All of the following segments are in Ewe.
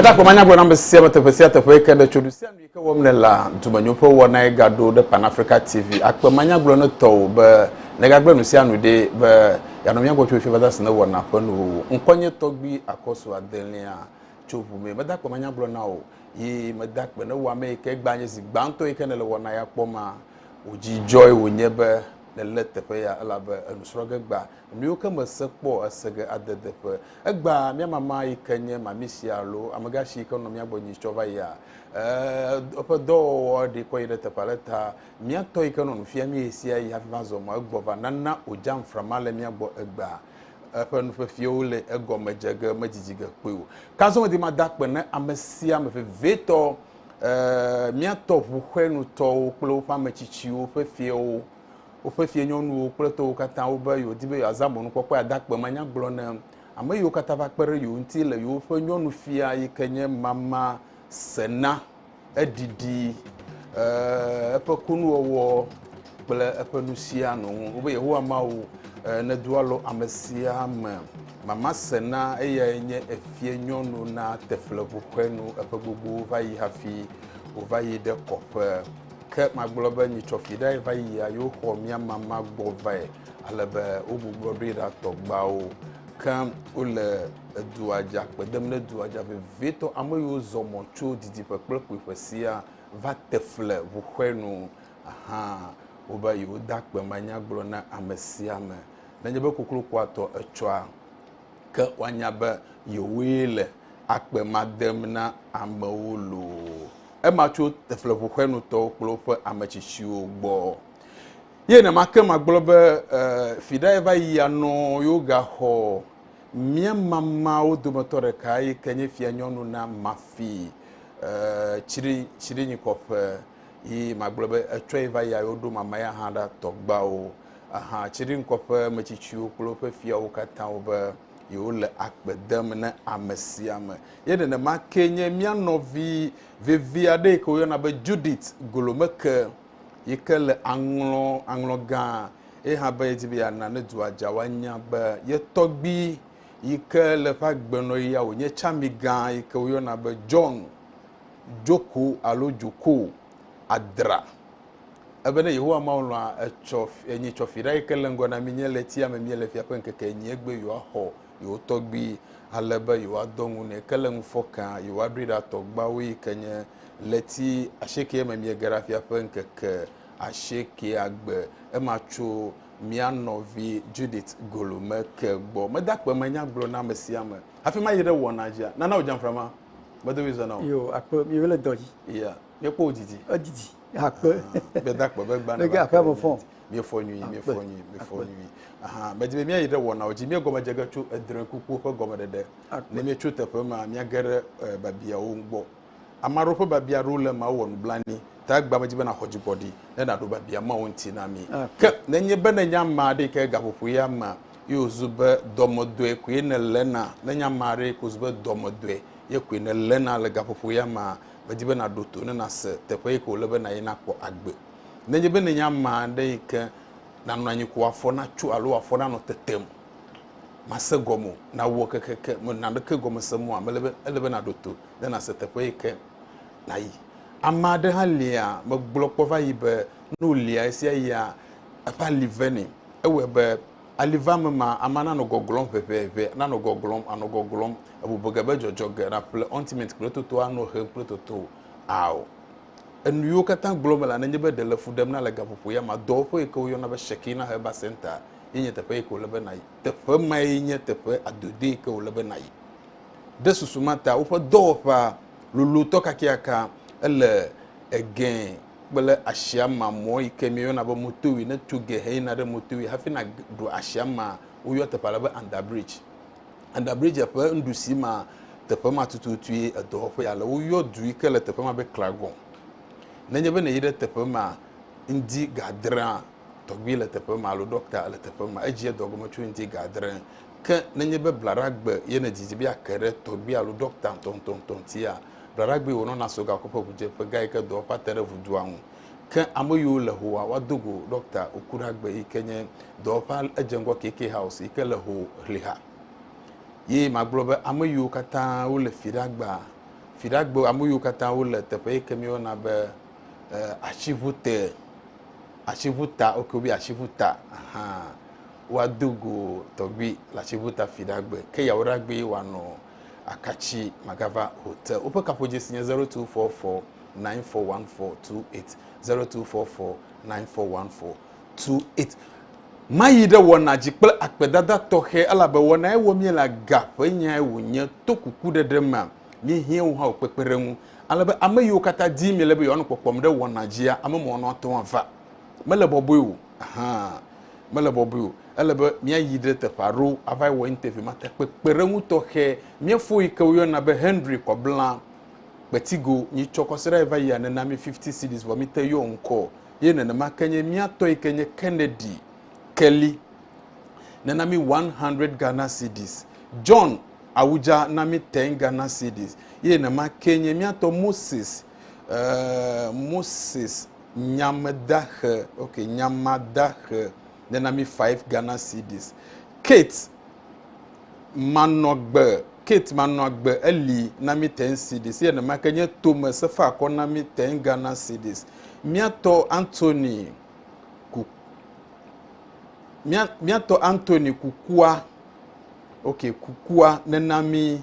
Metakpɔ manya gblɔ nam be sia me teƒe sia teƒe ke ɖe tso ɖu sia nu yi ke wɔm ne la dumenyoƒe wɔna yi gaɖo ɖe Pan Africa TV akpe manya gblɔ ne tɔwo be negagblẽ nu sia nu ɖe be yanɔ mía gbɔ tso fi vada si ne wɔna ƒe nuwuwu ŋkɔnye tɔgbi akɔsu adelia tso ʋu me metakpɔ manya gblɔ na o yi meda akpe ne wò ame yi ke gbã nye zi gbãtɔ yi ke nèle wɔna ya kpɔ ma. Wò dzi dzɔe wònye be nèlé teƒe ya elabe enu srɔ̃ ge gbã. Nuyiwo ke mèse kpɔ o ese ge ade deƒe. Egbã mía mama yi ke nye mami sia alo amegã si yi ke nɔ mía gbɔ nyi tsɔ va yia? Ɛɛ, eƒe dɔwɔwɔ ɖee kɔ yi ɖe teƒe ale ta mía tɔ yi ke nɔ nu fiam mí ɣesiaɣi hafi va zɔ mɔ egbɔ va nana wòdze amframa le mía gbɔ egbã. eƒe nufiafiawo le egɔme dze ge medidi ge kpɔe o. Ke azɔ medi mada akpe na ame sia ame vevietɔ, ee, míatɔ ʋu ƒe nutɔwo kple woƒe ame tsitsiwo ƒe fiawo, woƒe fianyɔnuwo kple tɔwo katã wo be yewodi be yewoazã mɔnukpɔkpɔe ada akpe manyagblɔ na ame yiwo katã va kpe ɖe yewo ŋuti le yewoƒe nyɔnufia yi ke nye mama sena. Eɖiɖi eƒe kunuwɔwɔ kple eƒe nusia nu wobe Yehowa Mawu nedo alɔ ame sia ame. Mama Sena eyae nye efie nyɔnu na tefleŋu ƒe nu eƒe gbogbo va yi hafi wòva yi ɖe kɔƒe. Ke magblɔ be nyitsɔfi ɖae va yia yewoxɔ mía mama gbɔ vae ale be wogbugbɔ ɖoe ɖa tɔgbawo. Ke wole edua dza, kpe dem ɖe dua dza vevitɔ. Ame yiwo zɔ mɔ tso didiƒe kple kpuiƒe siaa va te fle ŋuxɔe nu hã wobe yewoda akpe manya gblɔ na ame sia ame. Nenye be koklokua tɔ etsɔa, ke woanya be yewoe le akpe ma dem na amewo loo. Ema tso tefleŋuxɔenutɔwo kple woƒe ame tsitsiwo gbɔ. Ye nema ke magblɔ be e, fiɖae va yi anɔ yewo gaxɔ mía mamawo dometɔ ɖeka yi ke nye fianyɔnu na mafi e, tsri tsrinyikɔƒe yi magblɔ be etsɔe va yi ayo ɖo mama ya hã ɖa tɔgbawo aha tsrinyikɔƒe metsitsiwo kple woƒe fiawo katã wo be yewole akpe dem ne ame sia ame ye nenema ke nye mía nɔvi vevi aɖe yi ke woyɔna be Judith Golomeke yi ke le aŋlɔ aŋlɔ gã eye hã be yedi be yeana ne dua dza woanya be ye tɔgbi yi ke le eƒe agbenɔɣia wònye tsami gã yi ke woyɔna be John Joko alo Joko Adra. Ebe ne Yehowa Mawu lɔ̃a, etsɔ enyi tsɔfiɖa yi ke le ŋgɔ na mi nye ɣletia me míele fia ƒe ŋkeke enyi egbe yewoaxɔ yewo tɔgbui, ale be yewoadɔ ŋu nɛ. Ke le ŋufɔkea, yewoaɖoe ɖa tɔgbuiawo yi ke nye ɣleti asiekee me miege ɖa fia ƒe ŋkeke asiekea gbe. Ema tso mía nɔvi Judith Golume ke gbɔ. Mede akpe me nya gblɔ na ame sia ame hafi mayi ɖe wɔna dzia. Nana wò dzamfra ma. Medo ɣli zã na wò. Yo, akpe, miwo le dɔ dzi. Ya, míekpɔ wò didi. Edidi. Akpe. Gbeda akpe be gba. Nege akpe me fɔ. Miefɔ nyui, miefɔ nyui, miefɔ nyui. Aha, medi be míayi ɖe wɔnawo dzi. Míegɔme dze ge tso edre kuku ƒe gɔmeɖeɖe. Ne míetso teƒe ma, míage ɖe e, babiawo ŋu gbɔ. Ame aɖewo ƒe babia aɖewo le eme awɔ nublanui. Ta egbea medi be nàxɔ dzigbɔɖi ne nàɖo babia mawo ŋuti na mí. Ke nenye be nenye ame aɖe yi ke gaƒoƒo ya mea, ye wòzu be dɔmedɔe koe nèléna, nenye ame aɖe yi ke wòzu be dɔmedɔe ye koe nèléna le gaƒoƒo ya mea, Medi be nàɖo to ne nàse teƒe yi ke wòle be nàyi nàkpɔ agbe. Nenye be nènye ame aɖe yi ke nànɔ anyi ko afɔ natso alo wò afɔ nanɔ tetem, màse gɔme o, nàwɔ kekeke, mènɔ naneke gɔme sem oa, mele be, ele be nàɖo to ne nàse teƒe yi ke nàyi. Ame aɖe hã lia, megblɔ kpɔ va yi be, ne wòlia ɣesiaɣia, eƒe ali vɛnɛ. Ewɔe be. Ali va me ma, amea nanɔ gɔglɔm ʋeʋeʋe, nanɔ gɔglɔm, anɔ gɔglɔm, ebɔbɔ ge be dzɔdzɔ ge, naƒle ɔntimɛnti kple toto, anɔ hem kple toto. Ao. Enu yiwo katã gblɔm mele nenye be ɖe le fu ɖem na le gaƒoƒo ya ma, dɔwɔƒe yi ke woyɔna be Shekinah Herbal Center ye nye teƒe yi ke wòle be nàyi. Teƒe mae nye teƒe adodoe yi ke wòle be nàyi. Ɖe susu ma ta, woƒe dɔwɔƒea lolotɔ kakeaka, ele Egɛ̃ kple asiama mɔ yi ke míeyɔna be motorway neto ge heyina ɖe motorway hafi naɖo asiama woyɔ teƒe ale be under bridge under bridge ƒe nuɖusi ma teƒe ma tututue edɔwɔƒe ale woyɔ du yi ke le teƒe ma be klagon nenye be neyi ɖe teƒe ma ŋdi gadrea tɔgbi le teƒe ma alo dɔkta le teƒe ma edzi edɔgɔme tso ŋdi gadre ke nenye be blaɖagbe ye nedidi be ake ɖe tɔgbi alo dɔkta ŋutɔŋutɔŋutɔŋutia Ɖaɖagbee wònɔ Nassau gakoƒe ŋudzeƒe gã yike dɔwɔƒea te ɖe ŋudua ŋu. Ke ame yiwo le Howa woado go Ɖɔkta Okuragbe yike nye dɔwɔƒea edze ŋgɔ KK House yike le Ho Hliha. Ye magblɔ be ame yiwo katã wole Fiɖagba, Fiɖagbe ame yiwo katã wole teƒe yike míeyɔna be eh, Atsiŋu te, Atsiŋu ta, ok wobi Atsiŋu ta, ahan, woado go tɔgbui le Atsiŋu ta Fiɖagbe. Ke Yawoɖagbee wòanɔ. Akatsi Magava Hotel. Woƒe kaƒodzesi nye 0244941428, 0244941428. Mayi ɖe wɔna dzi kple akpedada tɔxɛ, elabe wɔnae wɔm míele, aga ƒe nyae wònye, to kukuɖeɖe mea, míehiã wo hã wo kpekpeɖeŋu, ale be ame yiwo katã dim miele be yewoanɔ kpɔkpɔm ɖe wɔna dzia, ame mɔnɔatɔ̃ ava. Mele bɔbɔe o. hã mele bɔbɔe o. Ele be míayi ɖe teƒe aɖewo ava wɔ interview ma ta. Kpekpeɖeŋu tɔxɛ, mía fo yi ke woyɔna be Henry kɔ bla kpetigo nyi tsɔ kɔ se ɖa va yia nena mí 50 cedis vɔ míte yɔ ŋkɔ o. Ye nenema ke nye mía tɔ yi ke nye Kennedy Kelly nena mí 100 Ghana cedis. John Awudza na mí 10 Ghana cedis. Ye nenema ke nye mía tɔ Moses Eeee Moses nyamdaxe ok nyamadaxe nena mi five Ghana cedis. Kate manɔgbe Kate manɔagbe eli na mi ten cedis ye nemake nye tome sefa akɔ na mi ten Ghana cedis. Miatɔ Anthony ku miatɔ Anthony kukua ok kukua nena mi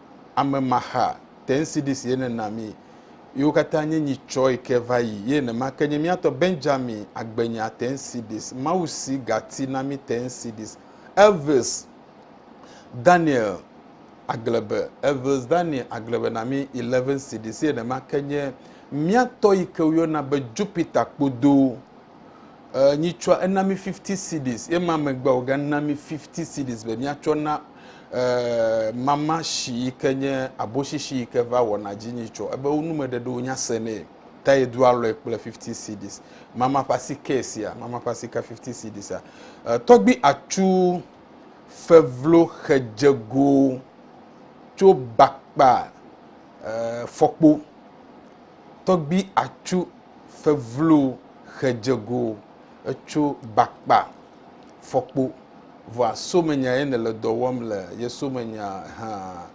ame maxa tncdc ye ne na mi yiwo katã nye nyi tsɔe ke va yi ye nema ke nye miatɔ benjamin agbenya tncdc mawu si gati na mi tncdc elvis daniel aglebe elvis daniel aglebe na mi 11 cdc ye nema ke nye miatɔ yi ke woyɔna be jupiter kpodo Ɛɛ, nyitsɔa, ena mí fifty cedis, ye ma megbe wògana mí fifty cedis be míatsɔ na, ɛɛ, mama shi yi ke nye aboshishi yi ke va wɔna dzi nyitsɔ. Ebe wo numeɖeɖewo nya se nɛ. Ta yedo alɔe kple fifty cedis. Mama ƒe asike sia, mama ƒe asika fifty cedisia. Ɛɛ, tɔgbui atsu fevlo xe dze go tso bakpa, ɛɛ, fɔkpo. Tɔgbui atsu fevlo xe dze go etso bakpa fɔkpo vɔa somenya ye ne le dɔ wɔm le ye somenya ha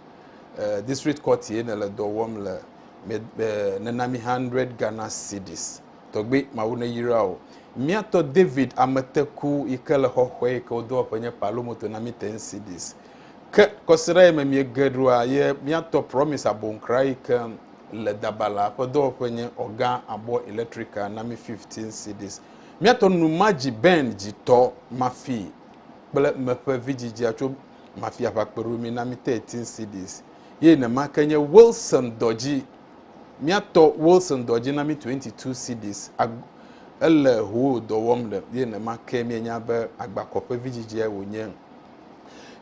district court ye ne le dɔ wɔm le me nena mi 100 Ghana cedis tɔgbe mawu ne yira o miatɔ David ameteku yi ke le xɔxɔe yi ke wodo eƒe nye palo moto na mi 10 cedis ke kɔsiɖa ye me miege ɖoa ye miatɔ promise abonkra yi ke le dabalaa ƒe dɔwɔƒe nye ɔga abɔ electrical na mi 15 cedis. Miatɔ nu ma dzi Ben dzi tɔ mafi kple meƒe vidzidzia tso mafi aʋa kpeɖo mi na mi 13 cedis ye nema ke nye Wilson dɔ dzi miatɔ Wilson dɔ dzi na mi 22 cedis ele hoo dɔ wɔm le ye nema ke mienya be agbakɔ ƒe vidzidzia wònye.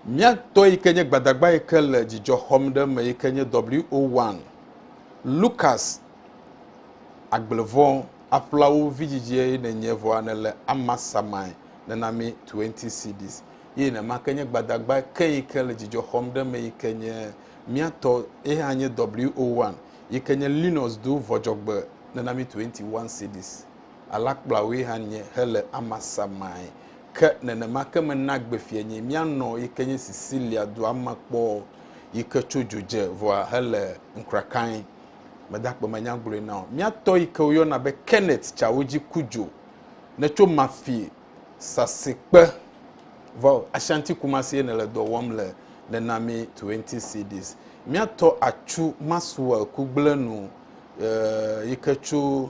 Mía tɔ yi ke nye gbadagba yi ke le dzidzɔ xɔm ɖe eme yi ke nye WO1 Lukas Agblevɔ aƒlawo vidzidzie nènye vɔa nèle ama samae nena mí 20 cedis. Ye nema ke nye gbadagba ke yi ke le dzidzɔ xɔm ɖe eme yi ke nye mía tɔ ye hã nye WO1 yi ke nye Linus do vɔdzɔgbe nena mí 21 cedis. alakplawoe hã nye hele Amasa mae. Ke nenema ke mena gbe fianye míanɔ yi ke nye Sicilia dua me kpɔ yi ke tso dzo dze vɔa hele ŋkrakae. Mede akpe me nya gblɔe na wò. Mía tɔ yi ke woyɔna be Kenneth tsawo dzi ku dzo ne tso Mafi sasikpe vɔ Ashanti Kumasie nele dɔ wɔm le nena mí 20 cedis. Mía tɔ atsu Maxwell kugblẽ nu eh, yi ke tso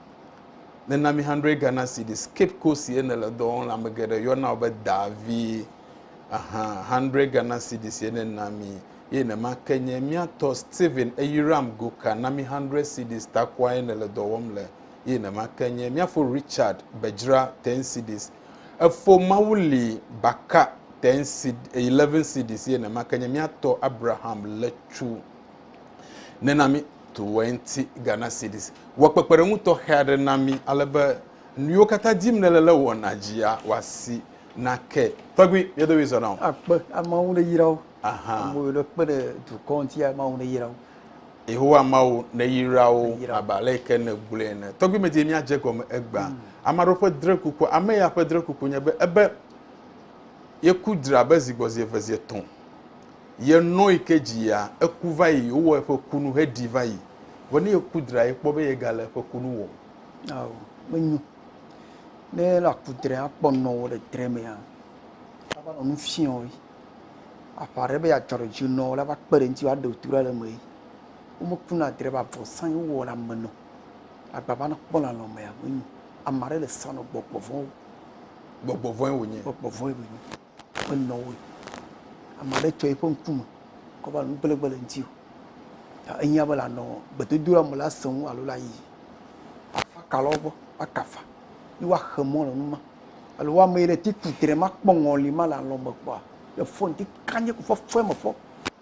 Nena mi hundred Ghana cedis. Cape Coast ye nele dɔ wɔm le, ame geɖe yɔna wò be Davi. Aha, hundred Ghana cedis ye nena mi. Ye nema ke nye mía tɔ Stephen Eyiram Goka na mi hundred cedis takoa ye nele dɔ wɔm le. Ye nema ke nye mía fo Richard Bedzra ten cedis. Efo Mawu li Baka ten ced, eleven cedis ye nema ke nye mía tɔ Abraham Letsu nena mi. 20 Ghana Cedis. Wɔ kpekpeɖeŋu tɔxɛ aɖe na mí ale be nuyiwo katã dim nèle le wɔna dzia, wòasi nake. Tɔgbui, mía domi zɔna o. Akpe, Mawu neyra wo. Aha. Amewo ɖe kpe ɖe dukɔ ŋuti, Mawu neyra wo. Yehowa Mawu neyra wo Neyra wo. abe ale yi ke nègblɔe ene. Tɔgbui, medi be míadze egɔme egbea. Ame aɖewo ƒe drekuku, ame ya ƒe drekuku nye be ebe yeku dra abe zi gbɔ zi eve zi etɔ̃. Ye nɔ yi ke dzi yea, eku va yi, wowɔ eƒe kunu heɖi va yi. Vɔ ne yeku dra ye kpɔ be ye gale eƒe kunu wɔm. Ao, menyo. Ne ele aku dre akpɔ nɔ wo le dre mea, la va nɔ nu fiɔ yi. Aƒa ɖe be yeadzɔ ɖe dzi nɔ wo la va kpe ɖe ŋti wo aɖe tu ɖa le eme yi. Womekuna dre ba vɔ sã yi wowɔ le ame nɔ. Agba va nakpɔ le alɔ mea, menyo. Ama ɖe le sã nɔ gbɔgbɔ vɔ̃ wo. Gbɔgbɔ vɔ̃e wonye. Gbɔgbɔ vɔ̃e wonye. menɔ o. Ame aɖe tsɔ eƒe ŋkume kɔ va nu kple gbe le ŋuti o. Ta ehiã be lanɔ gbedodoɖa me la sẽ ŋu alo la yiyi. Afa ka lɔ gbɔ akafa yi woaxe mɔ le nu ma. Alo woame yi ɖe ti ku tre makpɔ ŋɔli ma le alɔ me kpɔa le fɔn ti kanye ku fɔfɔe me fɔ.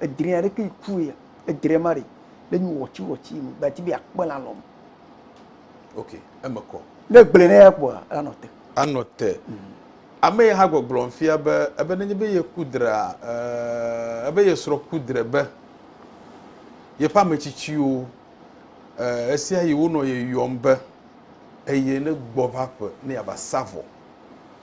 edre ya ɖeke ku ya edre ma ɖe le nyu wɔtsi wɔtsi me gbati be akpe la lɔm ok eme kɔ ne gblẽ ne ya kpɔa anɔ te anɔ te mm. ame yi hã gbɔgblɔm fia be ebe nenye be ye ku drea eh, ebe ye srɔ̃ ku dre be yeƒe ame tsitsiwo eh, esia yi wonɔ ye yɔm be eye ne gbɔ va ƒe ne yava sa vɔ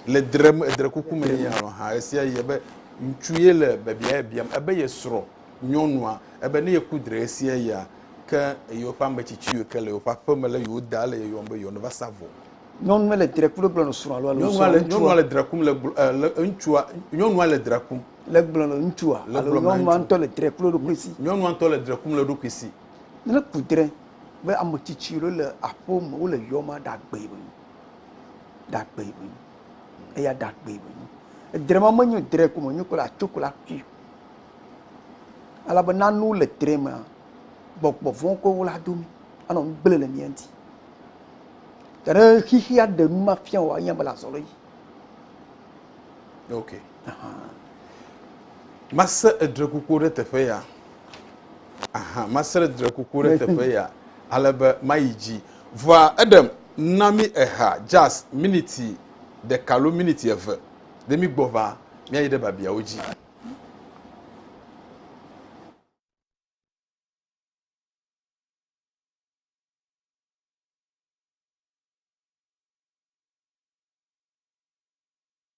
le drem edre kuku me nɛ alɔ hã esia yi ebe ŋutsu ye le bebia ye biam ebe ye srɔ̃ nyɔnua ebe ne yeku dre esia ya ke yewo ƒe ame tsitsiwo ke le yewo ƒe aƒe me le yewo da le yeyɔm be yewo neva sa vɔ. Nyɔnua le dre kum le gblɔ nɔ srɔ̃a alo alo srɔ̃a le nyɔnua le dre kum le le ŋutsua nyɔnua le dre kum le gblɔ nɔ ŋutsua alo nyɔnua ŋutɔ le dre kum le ɖokui si nyɔnua ŋutɔ le dre kum le ɖokui si ne ku dre be ame tsitsiwo le aƒewo me wole yɔma ɖagbe. Ɖagbe ye wònye. Eya ɖagbe ye wònye. Edre ma menye dre ko me wònye kple atso kple aƒui o. Ale be nane wole dre mea, gbɔgbɔ vɔ̃ koe wole ado mí. Anɔ nu gblẽ le mía ŋuti. Ke ne xexea ɖe nu ma fia wòa, anye be le azɔli dzi. Ok. Ahan. Mase edre kuku ɖe teƒe ya. Ahan. Mase edre kuku ɖe teƒe ya. Ale be mayi dzi. Vɔa eɖe na mí eha jazz miniti ɖeka lo miniti eve ɖe mí gbɔ va mía yi ɖe babiawo dzi.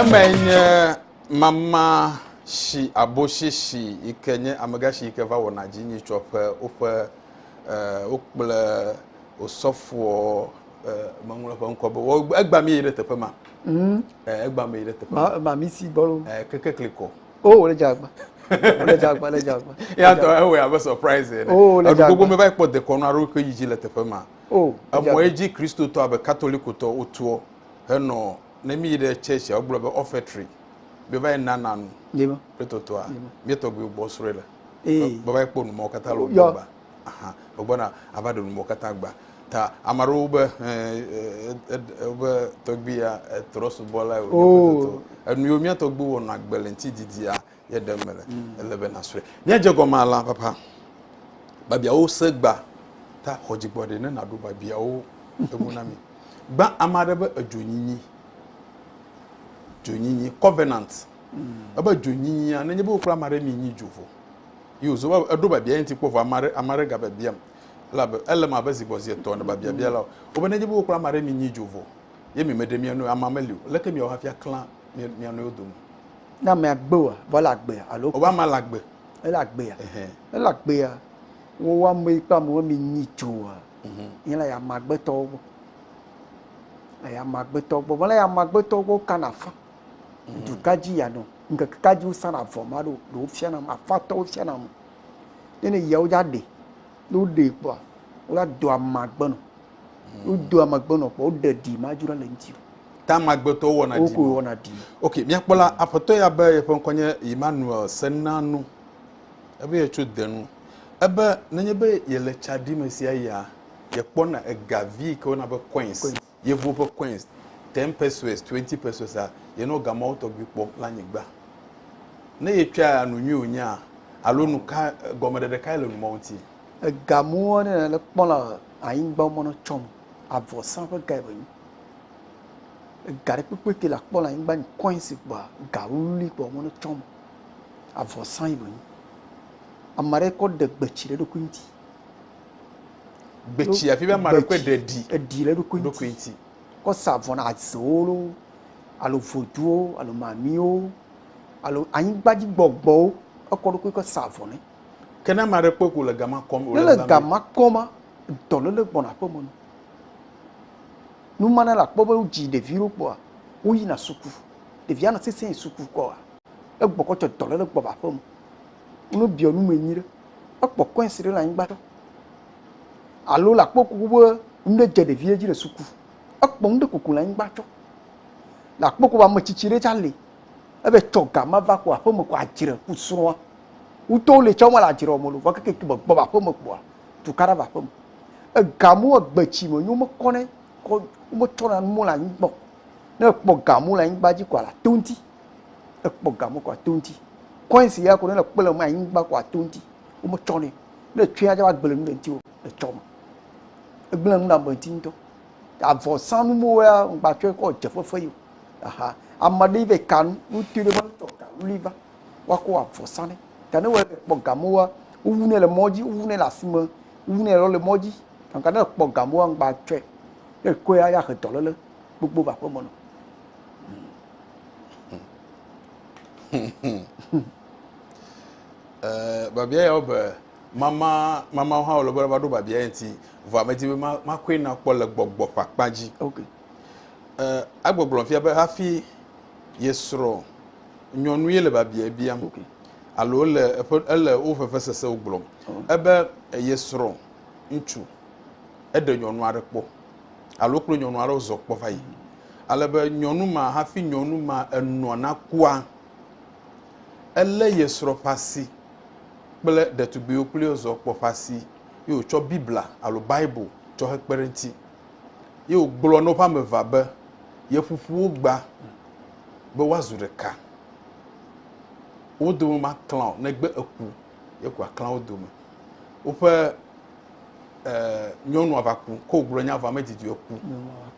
Eme nye mama si abosisi yi ke nye amegashi yi ke va wɔna dzi nyitsɔƒe woƒe eh, wokple osɔfoɔ eh, meŋlɔ ƒe ŋkɔ be wɔ- egba mi yi ɖe teƒe ma mm. eh, egba me yi ɖe teƒe ma ma mi si gbɔ lo eh, keke kli kɔ o oh, le jagba le jagba le jagba ya tɔ ewe abe surprise ene o oh, le jagba gbogbo me va kpɔ dekɔnu aro ke yidzi le teƒe ma o oh, emɔ edzi kristotɔ abe katolikotɔ wotuɔ henɔ ne mi yi ɖe church a wogblɔ be offertory mi va yi nana nu kristotɔa mi tɔgbiwo gbɔ srɔe le baba kpɔ nu mɔ katã lo gbɔ ba hã wogbɔna ava ɖe nuwo katã agba. Ta ame aɖewo be wobe tɔgbuia etrɔ subɔla o. Oh. Enu yiwo mía tɔgbu wɔnɔ agbe le ŋuti didia ye ɖem mele. Mm. Ele be nasrɔ̃e. Míadze gɔme alea papa. Babiawo se gba ta xɔ dzigbɔ ɖe ne naɖo babiawo enu na mi. Gbã ame aɖe be edzonyinyi. Dzonyinyi, covenant. Mm. Ebe dzonyinyia, nenye be wokpla ame aɖe mi nyi dzo vɔ. Yi wòzɔ va eɖo biabiae ŋuti kpɔ vɔ ame aɖe ame aɖe gabiabiam. Elabe ele me abe zi gbɔ zi etɔ̃ ene be biabiala o. Wobe nenye be wokpɔ ame aɖe mi nyi dzo vɔ ye mi meɖe mia nɔewo amea meli o, leke miawɔ hafi aklã mia nɔewo dome? Ne amea gbe oa, vɔ ele agbea alo? Wobe amea le agbe. Ele agbea. Ɛhɛn. Ne ele agbea, wo ame yi kple amewo mi nyi dzoa, yi le ya ame agbetɔwo gbɔ. Le ya ame agbetɔwo gbɔ. Vɔ le ya ame agbetɔwo gbɔ, wokana afã. Duka dzi ya nɔ? Ŋkeke ka dzi wo sana avɔ ma ɖo? Ɖe wo fia nam afɔ atɔ wo fia nam o. Ne ne yia wo dza ɖe. Ne wo ɖe kpɔa, wo la do ama gbe nɔ. Wo do ama gbe nɔ kpɔ wo ɖe ɖi ma dzro le ŋuti. Ta ama gbe tɔ wo wɔna ɖi. Wo ko wɔna ɖi. Ok, mia kpɔ la, aƒetɔ ya be yeƒe ŋkɔ nye Emmanuel Senanu. Ebe ye tso Denu. Ebe nenye be yele tsa ɖi me sia yia, ye kpɔna ega vi yi ke wo yɔna be coins. Yevuwo ƒe coins, ten pesewas, twenty pesewas-a, yenɔ ga mawo tɔgbi kpɔm le anyigba. Ne yetsɔa nu nyui wònyea, alo nu ka gɔmeɖeɖe kae le nu mawo ŋuti? Ega mawo aɖe ne le kpɔm le anyigba wo menɔ tsɔm o. Avɔsa ƒe gae be nyi. Ega ɖe kpekpe ke le akpɔ le anyigba nyi coins kpɔa, ga wluwlui kpɔ wo menɔ tsɔm o. Avɔsa yi be nyi. Ame aɖe kɔ ɖe gbe tsi ɖe eɖokui ŋuti. Gbetsi afi be ama ɖe kpe ɖe ɖi. Eɖi le ɖokui ŋuti. Ɖokui ŋuti. Kɔ sa avɔ na azewo lo, alo voduwo, alo mamiwo, alo anyigbadzi gbɔgbɔwo. Ekɔ ɖokui kɔ sa avɔ ne. Ke ne ama ɖe kpe ko le gama kɔm. Ne le gama kɔm ma, dɔ le le gbɔna aƒe me no. Numa ne la kpɔ be wodzi ɖevi ɖo kpɔa, woyina suku. Ɖevia nɔ sese yi suku kɔa, egbɔ kɔ tsɔ dɔ le le gbɔ va aƒe me. Nɔ biɔ nu me nyuiɖe. Ekpɔ coins ɖe le anyigba ɖe. Alo la kpɔ kuku be nuɖe dze ɖevia dzi le suku. Ekpɔ nuɖe kuku le anyigba tsɔ. La kpɔ kuku ame tsitsi ɖe tsa le. Ebe tsɔ ga ma va ku aƒeme ku adzre ku srɔ̃a. Wutɔwo le tsɔ me le adzre wɔme lo. Vɔ keke ki be gbɔ va aƒeme kpoa tukaɖa va aƒeme. Ega mo egbe tsi me nyo me kɔnɛ kɔ me tsɔ na nu mo le anyigbɔ. Ne ekpɔ ga mo le anyigba dzi kɔa la to ŋti. Ekpɔ game ko ato ŋuti. Coins ya ko ne le kpe le me anyigba ko ato ŋuti. Wometsɔ nɛ. Ne etsɔe atsɔ agble nu ɖe ŋuti o, etsɔ me. Egblẽ nu ɖe ame ŋuti ŋutɔ. Avɔsanu mewo ya ŋgbatsɔe kɔ dze fefe yi o. Aha. Ame aɖe yi va yi ka nu, wotɔe ɖe va tsɔ ka nu li va woakɔ avɔ sa nɛ. Ta ne wòle kpɔ gamewoa, wowu nɛ le mɔ dzi, wowu nɛ le asime, wowu nɛ lɔ le mɔ dzi. Gake ne ekpɔ gamewoa, ŋgbatsɔe. Ne ekɔe ya, ya he dɔléle gbogbo va aƒeme nɔ. Eh, babia ya be mama mama ha wole be va ɖo babia ya ŋuti vɔ ame di be makɔe na kpɔ le gbɔgbɔ ƒe akpa dzi okay. eh, agbɔgblɔ fia be hafi ye srɔ̃ nyɔnu ye le babia bia okay. alo le eƒe ele wo fefe sesewo gblɔm oh. ebe ye srɔ̃ ŋutsu eɖe nyɔnu aɖe kpɔ alo kple nyɔnu aɖewo zɔ kpɔ va yi. Ale be nyɔnu ma, hafi nyɔnu ma enɔ nakua, elé ye srɔ̃ ƒe asi kple ɖetugbuiwo kple ye zɔ kpɔ ƒe asi ye wòtsɔ Biblia alo Bible tsɔ hekpe ɖe eŋuti. Ye wògblɔ na woƒe ame evea be yeƒoƒu wo gba be woazu ɖeka. Wo dome maklã o negbe eku, ye ko aklã wo dome. Woƒe eh, nyɔnua va ku ko wògblɔ nya vɔ medidi o ku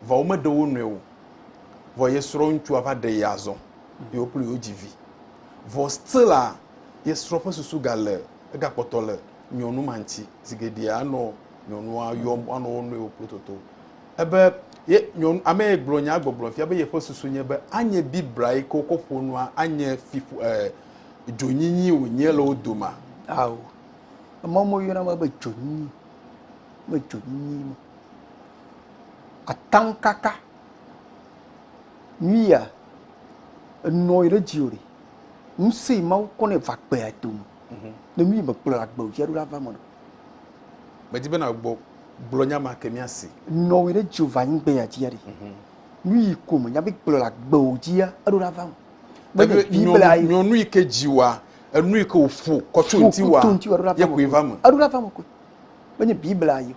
vɔ womeɖe wo nɔe o vɔ ye srɔ̃ ŋutsua va ɖe ye azɔ ye wo kple yewo dzi vi vɔ stila ye srɔ̃ ƒe susu gale egakpɔtɔ le nyɔnu ma ŋuti zi geɖe anɔ nyɔnua yɔm anɔ wo nɔewo kple toto ebe ye nyɔnu ame ye gblɔ nya gbɔgblɔ fia be yeƒe susu nye be anye biblia yi ke wokɔ ƒo nua anye fi eh, dzonyinyi wònye le wo doma ao Emɔ me woyɔna be dzonyi. Me dzonyi ma. Ataŋkaka. Nuya enɔ yi ɖe dziwò ɖe. Ŋusẽ yi Mawu kɔ nɛ va gbea dome. Mhm. Ne nu yi me kplɔ agbe wò fiaɖu la va me ɖo. Medi be nàgbɔ gblɔ nya ma ke míasi. Nɔ yi ɖe dziwò va nyi gbea dzia ɖe. Mhm. Nu yi ko me nya be kplɔ agbe wò dzia eɖo la va me. Biblia yi. Nyɔnu yi ke dziwa Enu yi ke wòƒo kɔ tso ŋutiwòa ye koe va eme. Eɖo ɖa va eme koe. Menye Biblia ye o.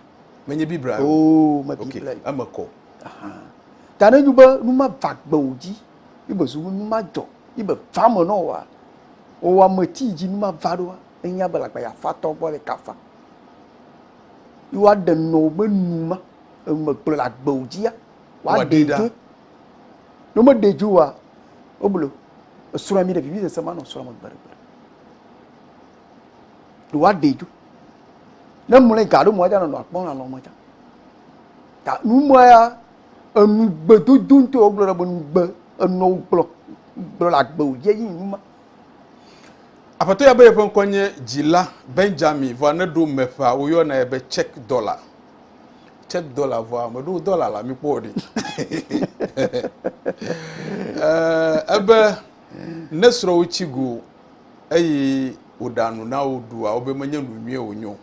Menye Biblia ye o. Oo, me Biblia ye. Eme kɔ. Ta ne nyu be nu ma va gbe wò dzi, yi be zu be nu ma dzɔ, yi be va eme nɔ wòa, wò ame ti dzi nu ma va ɖoa, enya be lagba ya fa tɔ gbɔ le kafa. Yi woaɖe nɔ wò be nu ma, eme gblɔ le agbe wò dzia, woaɖe ɖa. Ne womeɖe dzi oa, woblo. Esrɔ̃ yɔ mi ɖe vivisese ma nɔ srɔ̃ me gbeɖegbeɖe. Ɖe woaɖe dzi. Ne mlɔe ga ɖo mɔ dza nɔnɔ akpɔ lã lɔ mɔ dza. Ta numɔ ya enu gbedodo ŋutɔ wogblɔ ɖe be nu gbe enɔ wogblɔ gblɔ le agbe wòdzi eyi numa. Aƒetɔ ya be yeƒe ŋkɔ nye dzila Benjamin vɔ aneɖo me ƒea woyɔnae be check dɔla. check dollar vɔa meɖo dollar la mi kpɔ ɖi ebe eh, ne srɔ̃wò tsi go eye wòɖa nu na wò ɖua wobe menye nu nyuie wònyo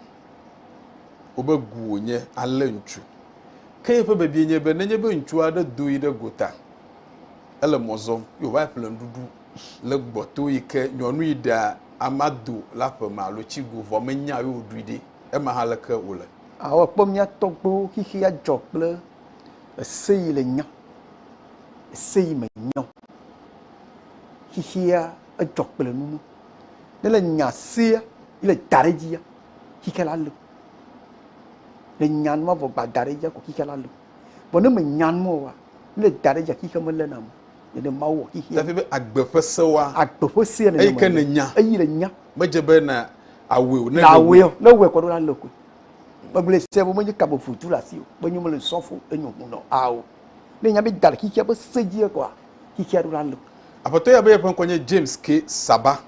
wobe gu wònye alé ŋutsu ke yeƒe bebie nye be nenye be ŋutsu aɖe do yi ɖe gota ele mɔ zɔm yi wòva ƒle nuɖuɖu le gbɔto yi ke nyɔnu yi ɖea amado la ƒe me alo tsi go vɔ menya yi wòɖui ɖi ema hã leke wòle Ao akpɔ mía tɔgbuiwo xixi adzɔ kple eseyi le nya, eseyi me nyɔ. Xixia edzɔ kple nunu. Ne le nya sea le da ɖe dzia, xixia la le. Le nya nua vɔ gba da ɖe dzia ko xixia la le. Vɔ ne me nya nua oa, ne le da ɖe dzia xixia me le na me. Nene Mawu wɔ xixia. Dafi be agbe ƒe sewoa. Agbe ƒe sea nene me le. Eyi ke ne nya. Eyi le nya. Medze be na awɔe o. Ne na awɔe o. Ne wɔe kɔ ɖo la le koe. Megblɔe se bo menye kabo futu le asi o. Menyo mele sɔfo enyo hu nɔ ao. Ne nya be da le xixia be se dzi ekɔa xixia ɖo la le. Aƒetɔ ya be yeƒe ŋkɔ nye James K. Saba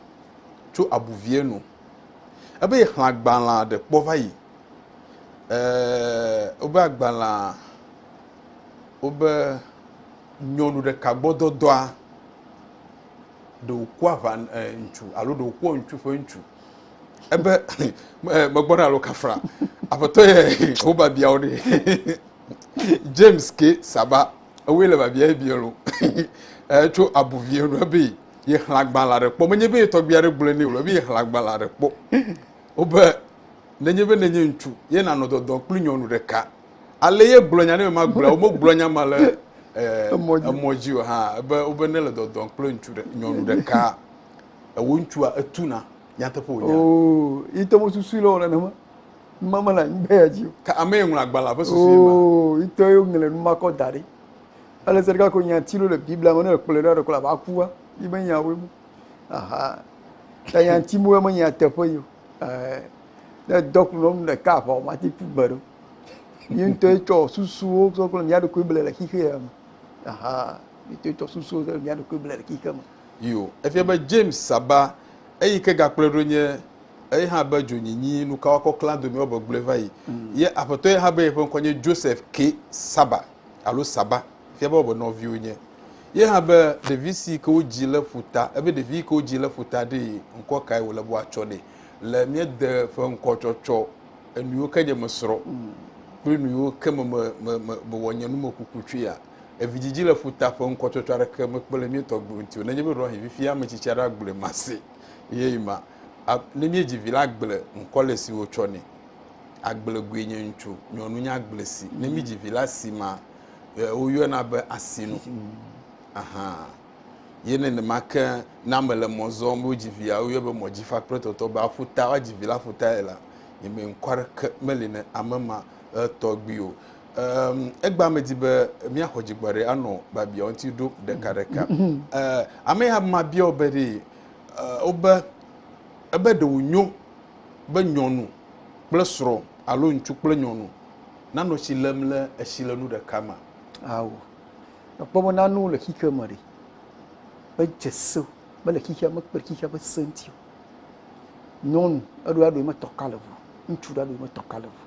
tso Abuvie nu. Ebe yexlẽ agbalẽa ɖe kpɔ va yi. Eeeee wobe agbalẽa wobe nyɔnu ɖeka gbɔ dɔdɔa. ɖe wòku aʋa ŋutsu alo ɖe wòkua ŋutsu ƒe ŋutsu. Ebe megbɔ na alo kafra. Aƒetɔ yɛ wo babiawo ɖe. James ke saba ewoe le babia ye biɛ lo. Tso abuvie nu ebe ye xla gbala ɖe kpɔ. Menye be ye tɔgbia ɖe gblɔe ne wòle ebe ye xla gbala ɖe kpɔ. Wobe nenye be nenye ŋutsu ye nanɔ dɔdɔ kpli nyɔnu ɖeka. Ale ye gblɔ nya ne ma gblɔ wo gblɔ nya ma le emɔ dzi o hã ebe wobe ne le dɔdɔn kple ŋutsu ɖe nyɔnu ɖeka ewo ŋutsua etuna nyateƒe wonya. Oo ite mo susu le wona nema ma ma la ngbe ya dzi. Ka ame ye ŋlɔ agbala ƒe susu ma. Oo ite yo ŋlɔ nu ma kɔ da ɖi. Ale se ɖeka ko nya ti lo le Biblia me ne ekplɔ ɖe ɖe ba kuwa yi be nya wo. Aha. Ta nya ti mo me nya teƒe yo. Eh. ne edɔ ku nɔ nu ɖeka aʋa o mati ƒu gbe ɖo yi ŋutɔ etsɔ susuwo tsɔ kple mía ɖokui ble le xixe ya me aha yi ŋutɔ etsɔ susuwo tsɔ mía ɖokui ble le xixe me. Yo, efia be James Saba eyi ke gakplɔe ɖo nye eye hã be dzonyinyi nukawakɔ klã domi wɔbe gblɔe va yi. Mm. Ye aƒetɔ ye hã be yeƒe ŋkɔ nye Joseph K. Saba alo Saba, fia be wɔbe nɔviwo nye. Ye hã be ɖevi si ke wodzi le ƒuta, ebe ɖevi yi ke wodzi le ƒuta ɖee ŋkɔ kae wòle be woatsɔ nɛ. le míede ƒe ŋkɔ tsɔtsɔ enuyiwo ke nye mesrɔ kple nuyiwo ke me me me me mewɔ nye numekuku tsoea. Evidzidzi le ƒuta ƒe ŋkɔ tsɔtsɔ aɖeke mekpe le mía tɔgbuiwo ŋuti o. Nenye be ɖewohĩ fifi ame tsitsi aɖe agblɔe mase eye ma a- ne míedzi vi la agble ŋkɔ le si wotsɔ nɛ. Agble goe nye ŋutsu, nyɔnu nye agble si. Ne míedzi vi la si ma e, woyɔna be asinu. Ahan. Ye nenema ke ne ame le mɔ zɔm be wodzi vi ya woyɔe be mɔdzifa kple tɔtɔ be aƒuta woadzi vi la aƒutae la nye me ŋkɔ aɖeke meli ne ame ma tɔgbi o. Um, egba me di be míaxɔ dzigbɔ ɖe anɔ babia ŋuti ɖo ɖekaɖeka. Uh, ame ya ma bia wo be ɖe uh, wobe ebe ɖe wonyo be nyɔnu kple srɔ̃ alo ŋutsu kple nyɔnu nanɔ tsi lem le etsi le nu ɖeka ma. Awo. Èkpɔ be nanewo le xexea me ɖe? Medze se mele xexea me kple xexea ƒe se ŋuti o. Nyɔnu, eɖo aɖoe metɔ ka le ŋu. Ŋutsu ɖe aɖoe metɔ ka le ŋu.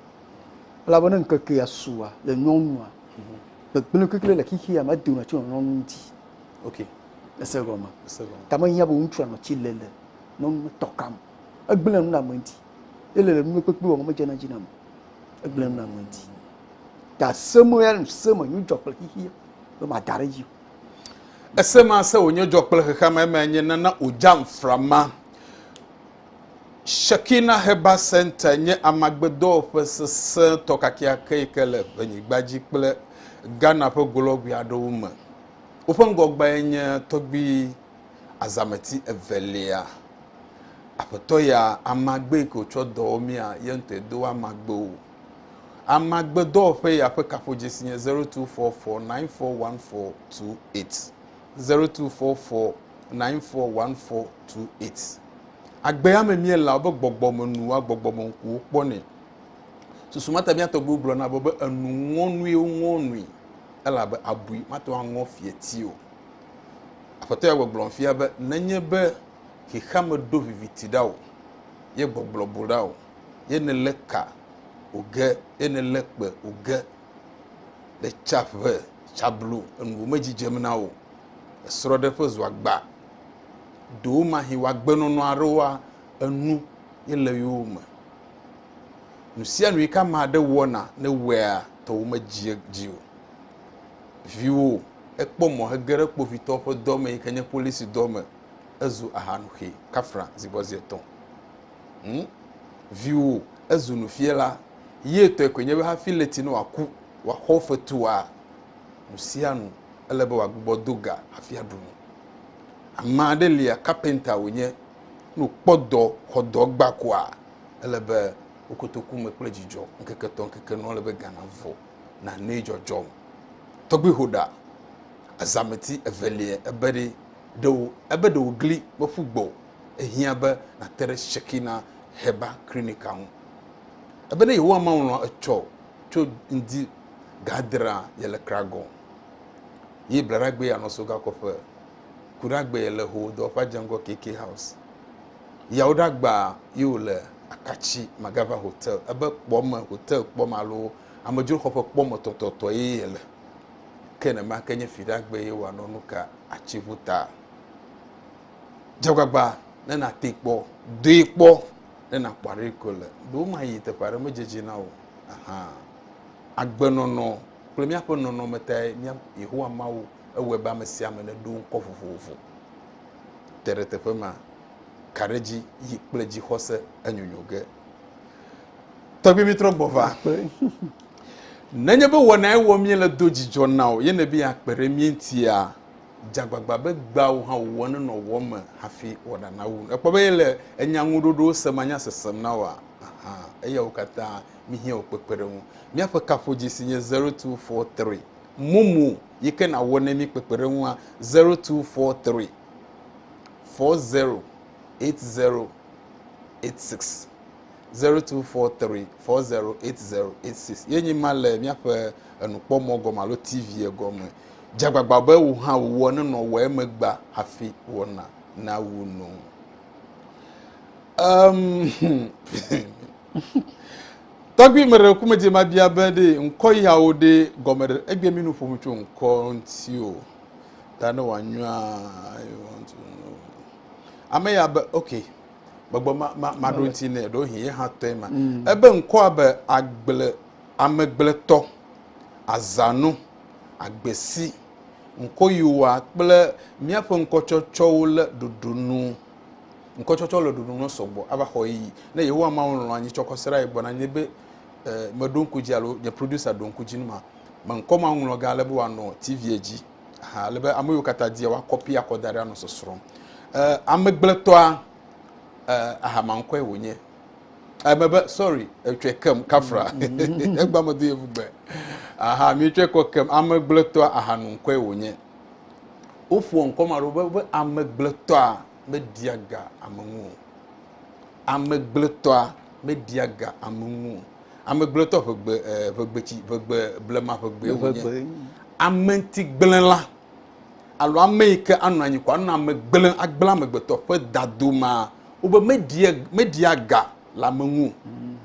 Elabena ŋkekea sua le nyɔnua. Mhm. Gbegblẽ kekle le xexea me edona tso nyɔnu ŋuti. Ok. Ese gɔme. Ese gɔme. Ta mehiã be ŋutsua nɔ tsi le le nyɔnu metɔ ka me. Egblẽa nu le ame ŋuti. ele le nume kpekpe wɔm medzena dzi nam egblẽ nu nam ŋuti ta se me ya se me nyu dzɔ kple xixi be mada ɖe dzi ese ma se wònye dzɔ kple xexea me eme nye nana ojam frama Shekina Heba Center nye amagbedɔwɔƒe sesẽtɔ kakeake yi ke le ʋenyigba dzi kple Ghana ƒe golɔgui aɖewo me. Woƒe ŋgɔgbae nye tɔgbui azãmeti evelia, Aƒetɔ ya amagbe yi ke wòtsɔ dɔ wɔ mía, ye ŋutɔe do amagbe wò. Amagbedɔwɔƒe ya ƒe kaƒodzesi nye 0244941428, 0244941428. Agbea me míelea wobe gbɔgbɔmenuwoa gbɔgbɔmeŋkuwo kpɔnɛ. Susu mata mía tɔgbuiwo gblɔna be, be enu ŋɔnuiwo ŋɔ nui, elabe abui mate ŋu aŋɔ fieti o. Aƒetɔ ya gbɔgblɔm fia be nenye be xexeame ɖo viviti ɖa o, ye gbɔgblɔ bu ɖa o, ye nèlé ka o ge, ye nèlé kpe o ge, ɖe tsa ƒe tsa blu enu wo me dzidzem na o, esrɔɖe ƒe zua gba do wo mahi wo agbenɔnɔ aɖe woa enu ye le yo me. Nusianui ka ma ɖe wɔna ne wea tɔ wo me dzi o. viwo o. Ekpɔ mɔ hege ɖe kpovitɔwo ƒe dɔ me yi ke nye polisi dɔ me. Ezu ahanuxɛ, kafra, zi gbɔ zi etɔ̃. Hm? Viwo, ezu nufiala. Ye tɔe koe nye be hafi leti ne wòaku, wòaxɔ fetua, nu sia nu, ele be wòagbugbɔ do ga hafi aɖu nu. Ame aɖe lia, kapenta wònye, ne wòkpɔ dɔ, xɔ dɔ gbã koa, ele be wo kotoku me kple dzidzɔ, ŋkeke etɔ̃, ŋkeke enɔ, ele be ga navɔ. nanee dzɔdzɔm. Tɔgbui ho ɖa, azãmeti evelia ebe ɖe ɖe wo, ebe ɖe wògli meƒu gbɔ o, ehiã be nàte ɖe Shekinah Herbal Clinic-a ŋu. Ebe ne Yehowa malɔ̃ etsɔ tso ŋdi gadrea yele kragɔ ye blaɖagbee yanɔ so gakɔƒe, kuɖagbee yele ho dɔwɔƒea dze ŋgɔ KK House. Yawo ɖagbaa ye wòle akatsi magava hotel ebe kpɔme hotel kpɔme alo amedzroxɔƒe kpɔme tɔtɔtɔ ye yele ke nema ke nye fi ɖagbe ye wòanɔ nu ka atsi ŋu ta dzegbagba ne nate kpɔ doe kpɔ ne nakpɔ aɖe ko le ɖewo ma yi teƒe aɖe medzedzi na o aha agbenɔnɔ kple míaƒe nɔnɔme tae mía yehowa mawu ewɔe be ame sia ame neɖo ŋkɔ vovovo te ɖe teƒe ma ka ɖe dzi yi kple dzixɔse enyonyo ge. Tɔgbi mi trɔ gbɔ va. Nenye be wɔna ewɔ mie le do dzidzɔ na o ye ne be ya kpe ɖe mie ŋutia, dzagbagba be gbea wò hã wò wɔ ne nɔ wɔ me hafi wɔna na wu. Ekpɔ be ye le enya ŋu ɖoɖo se ma nya sesem na wòa? Aha, eya wo katã mi hiã wò kpekpe ɖe ŋu. Mia ƒe kaƒodzi si nye 0243. Mumu yi ke na wɔ ne mi kpekpe ɖe ŋua 0243. four zero eight zero eight six zero two four three four zero eight zero eight six ye nyi ma le míaƒe enukpɔmɔ gɔme alo tv gɔme dzagbagba be wò hã wòwɔ nenɔ wɔ emegba hafi wɔna na wu no. Um, tɔgbi me ɖe kume dze ma bia be ɖe ŋkɔ yawo ɖe gɔme ɖe egbe mi nu ƒom tso ŋkɔ ŋuti o. Ta ne wòanyɔa you want to know. Ame ya be ok gbɔgbɔ ma ma ma ɖo ŋuti nɛ ɖo hin ye hã tɔe ma. Mm. Ebe ŋkɔa be agble amegbletɔ azãnu agbesi ŋkɔ yi wa kple míaƒe ŋkɔtsɔtsɔwo le ɖoɖo nu. Ŋkɔtsɔtsɔ le ɖoɖo nu sɔgbɔ ava xɔ yi ne Yehowa Mawu lɔ̃ anyi tsɔkɔsrae gbɔna nye be eh, meɖo ŋku dzi alo nye producer ɖo ŋku dzi nu ma. me ŋkɔ ma ŋlɔ ga ale be wòanɔ tivia dzi aha ale be ame yiwo katã dia woakɔpi akɔ da ɖe anɔ sɔsrɔ̃m eh, amegbletɔa eh, aha maŋkɔe wònye eme be sorry etsɔe kem kafra mm-hmm. egba medo yevu gbe aha mietsɔe kɔ kem amegbletɔa aha nu ŋkɔe wònye woƒoa ŋkɔ ma ɖo be amegbletɔa media ga ame ŋu o amegblẽtɔa meɖia ga ame ŋu o. Amegblẽtɔ ʋegbe e ʋegbetsi ʋegbe blema ʋegbee wònye. Ame ŋuti gblẽ la alo ame yi ke anɔ anyi ko anɔ ame gblẽ agblẽ amegbetɔ ƒe dado ma wobe meɖia meɖia ga le ame ŋu o. Mm.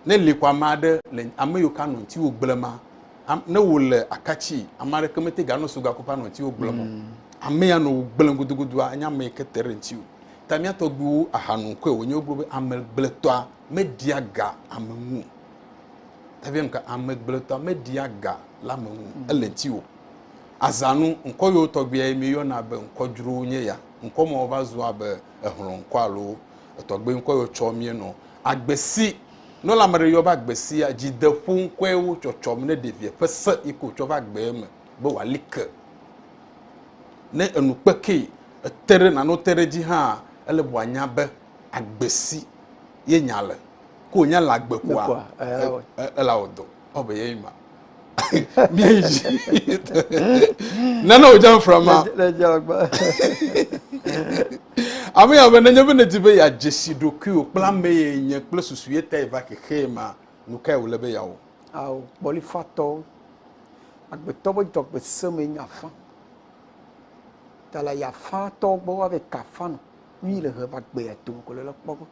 Ne li ko ame aɖe le ame yiwo ke anɔ ŋutiwo gblẽ ma ne wòle akatsi ame aɖeke mete ganɔ suga ko ƒe anɔ ŋutiwo gblẽ o. Mm. Ame ya nɔ wò gblẽ gudugudu enye ame yi ke te ɖe ŋutiwo. Ta mía tɔgbuiwo aha nu koe wònye wogblɔ be amegbletɔa meɖia ga ame ŋu o. Ta via nuka amegbletɔa meɖia ga le ame ŋu mm. ele ŋuti o. Azãnu ŋkɔ yewo tɔgbuia ye míeyɔna be ŋkɔ dzrowo nye ya. Ŋkɔ mawo va zu abe ehlɔ̃ ŋkɔ alo etɔgbe ŋkɔ yewo tsɔ míenɔ. Agbesi, ne wole ame ɖe yɔ be agbesia, dzideƒo ŋkɔe wo tsɔtsɔm ne ɖevia ƒe se yi ke wòtsɔ va gbee me be wòali ke. Ne enu kpekee ète ɖe nane wote ɖe edzi hãa, ele be wòanya be agbe si ye nya le, ke wònya le agbe koa, ela wɔ dɔ. Ɔ be yeye ma. Míayi dzi. Nane wòdze anfra ma. Ame ya be, nenye be nèdi be yeadze si ɖokuiwò kple ame ye nye kple susu ye tae va xexee mea, nu kae wòle be yeawɔ? Ao, kpɔlifatɔwo. Agbetɔ be dzɔgbe se me nya fã. Ta la ya fã tɔ gbɔ wa be ka fã no. Nu yi le he va gbe ya tom ko le kpɔ gbɔ.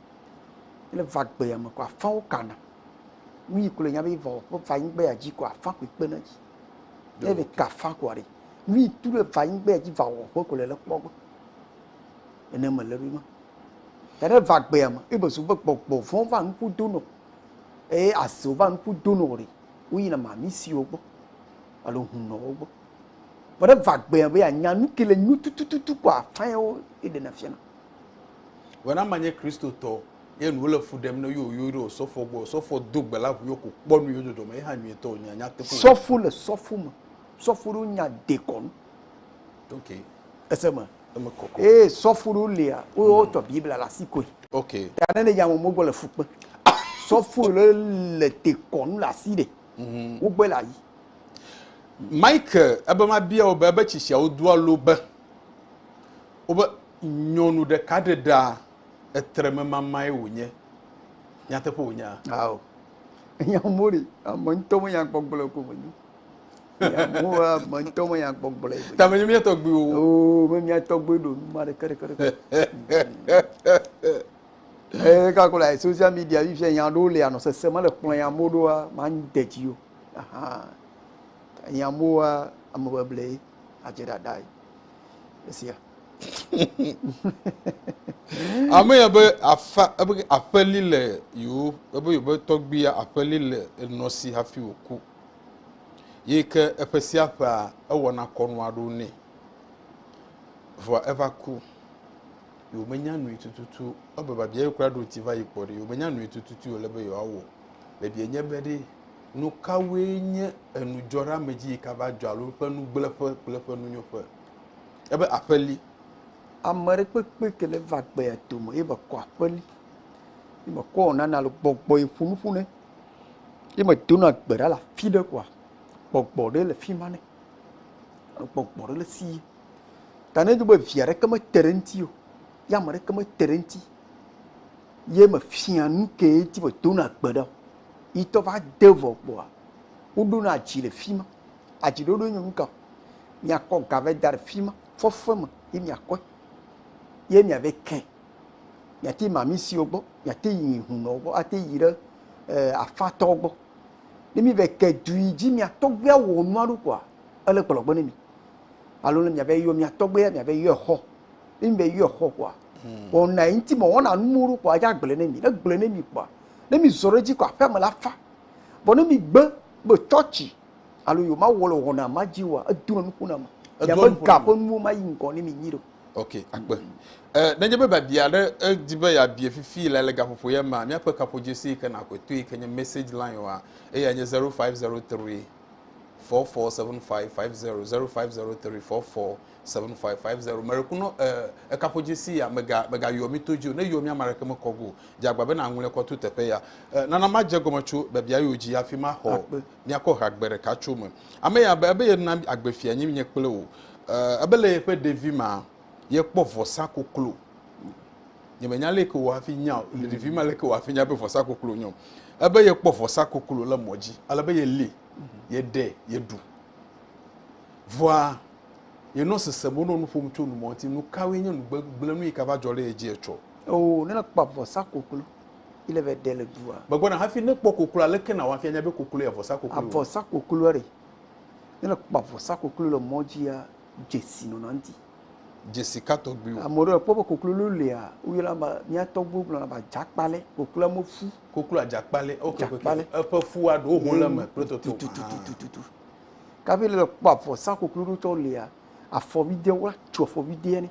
Le va gbe ya me ko afã wo kana. Nu yi ko le nya be va ko va yin gbe ya ji ko afã ko kpe na ji. Le be ka fã ko ari. Nu yi tu le va yin gbe ya ji va wo ko ko le kpɔ gbɔ. Ene me le rima. Ta le va gbe ya me. Ibe zu be gbɔ gbɔ vɔn va nuku dono. E aso va nuku dono ori. woyina mamisiwo gbɔ alo hunɔwo gbɔ. Vɔ ɖe va gbea be anya nu ke le nyu tutututu kpɔ afãewo ye ɖe na fiana. Vɔ na manye Kristotɔ ye nu le fu ɖem ne yo yo ɖe osɔfo gbɔ osɔfo do gbe la ʋu yo ko kpɔ nu yo dzɔdzɔ me ye hã nyuie tɔ nya nya teƒe. Sɔfo le sɔfo me sɔfo ɖo nya dekɔnu. Ok. Ese me. Eme kɔkɔ. Ee, sɔfo ɖewo lia, wotɔ Biblia le asi koe. Ok. Ta ne nedze amewo gbɔ le fu kpe. Sɔfo ɖe le tekɔ nu le asi ɖe. Mhm. Wogbe le ayi. Mike, ebe mabia wò be ebe tsi siawo do alo be wobe nyɔnu ɖeka ɖe ɖa etrememamae wònye. Nyateƒe wònye a? Ao. Enya mori, ame ŋutɔ menya gbɔgblɔ ko menye. Yehowa me ŋutɔ me ya gbɔgblɔe. Ta me nye mía tɔgbuiwo. Oo me mía tɔgbui ɖo nu ma ɖeke ɖeke ɖeke. Ee kakɔ le social media yi fia nya ɖewo le anɔ sese mele kplɔ ya mo ɖoa ma de dzi yo. Aha. Nya moa ame beble adze ɖaɖa yi. Esia. Ame ya be afa ebe aƒeli le yewo ebe yewo be tɔgbuia aƒeli le enɔ si hafi wòku. Yi ke eƒe sia ƒea ewɔna kɔnu aɖewo nɛ. Vɔa eva ku. Yi womenya nui tututu ebe babia ye kura ɖo ŋuti va yi kpɔ ɖi. Yi womenya nui tututu wòle be yewoawɔ. Babia nye be ɖe nu kawoe nye enudzɔɖeamedzi yi ka va dzɔ alo eƒe nugblẽƒe kple eƒe nunyoƒe. Ebe aƒe li. Ame aɖe kpekpe ke le va gbea tome ebe kɔ aƒe li. Yi mekɔ wɔna na le gbɔgbɔ yi ƒo nu ƒu nɛ. Ye me do na gbe ɖa le afi ɖe kɔa, gbɔgbɔ ɖe le fi ma ne. Gbɔgbɔ ɖe le si ye. Ta ne nyi be via ɖe ke me te ɖe ŋuti o, ye ame ɖe ke me te ɖe ŋuti, ye me fia nu ke ye ŋuti me do na gbe ɖa o, yi tɔ va de vɔ kpɔa, wo ɖo na adzi le fi ma. Adzi ɖoɖo nye nu ka? Mia kɔ ga vɛ da ɖe fi ma, fɔfɔe me ye mia kɔe, ye mia vɛ kɛ. Mìate ma misiwo gbɔ, mìate yi hunɔwo gbɔ, ate yi ɖe afatɔwo gbɔ. Ne mìva yi ke du yi dzi mìa tɔgbuia wɔ nua ɖo kpoa, ele gbɔlɔgbɔ ne mì. Alo ne mìava yi yɔ mìa tɔgbuia, mìava yi yɔe xɔ. Ne mìva yi yɔe xɔ kpoa, wɔna yi ŋuti mewɔna nuwo ɖo kpoa, edze agblɔe ne mì. Ne egblɔe ne mì kpoa, ne mìzɔ ɖe edzi kpoa, aƒea me la fa. Vɔ ne mìgbe be tsɔtsi alo yewomawɔ le wɔna ma dzi oa, edona nuƒo na ame. Mìabe ga ƒe nuwo mayi ŋgɔ ne mì nyuiɖe o. Ok, akpe. Eh, nenye be biabia aɖe edi eh, be yeabie fifi le le gaƒoƒo ya mea, míaƒe kaƒodzesi yi ke nàxɔe to yi ke nye message line wa, eya nye 0503 447550 0503 447550 merekunɔ eh, ekaƒodzesi ya mega megayɔ mi to dzi o ne yɔ mi ame aɖeke mekɔ go dze agba be naŋlɔe kɔ to teƒe ya eh, nana madze gɔme tso biabia yiwo dzi hafi maxɔ míakɔ ha gbe ɖeka tso me. Ame ya be, ebe yena agbefia nyi nye kple wò. Eh, ebe le yeƒe ɖevi ma, yekpɔ vɔsa koklo. Nye me nya leke wò hafi nya o, le ɖevi ma leke wò hafi nya be vɔsa koklo nyɔ. Ebe yekpɔ vɔsa koklo le mɔ dzi, ale be yeli, yeɖe, yeɖu. Vɔa, yenɔ sese mo nɔ nuƒom tso numɔti, nukawoe nye nugbe gblẽ nu yike va dzɔ ɖe yedzi etsɔ. Oo, ne le kpɔ vɔsa koklo. yi le vɛ ɖe le dua. Gbɔgbɔ na hafi ne kpɔ koklo aleke na wafia nya be koklo ya vɔsa koklo. Avɔsa koklo re. Ne le kpɔ avɔsa koklo le mɔ dzi ya dzesi nɔ na ŋti. Dzesi ka tɔgbi wo. Ame ɖe kpɔ be koklo lo lia wo yɔna ba mia tɔgbi gblɔ na ba jakpale koklo ame fu. Koklo ajakpale ok jakpale. Eƒe fu wa ɖo ho le me kple toto. Tututututu. Kafi le kpɔ avɔsa koklo ɖo tɔ lia afɔvi de wa tso afɔvi de ne.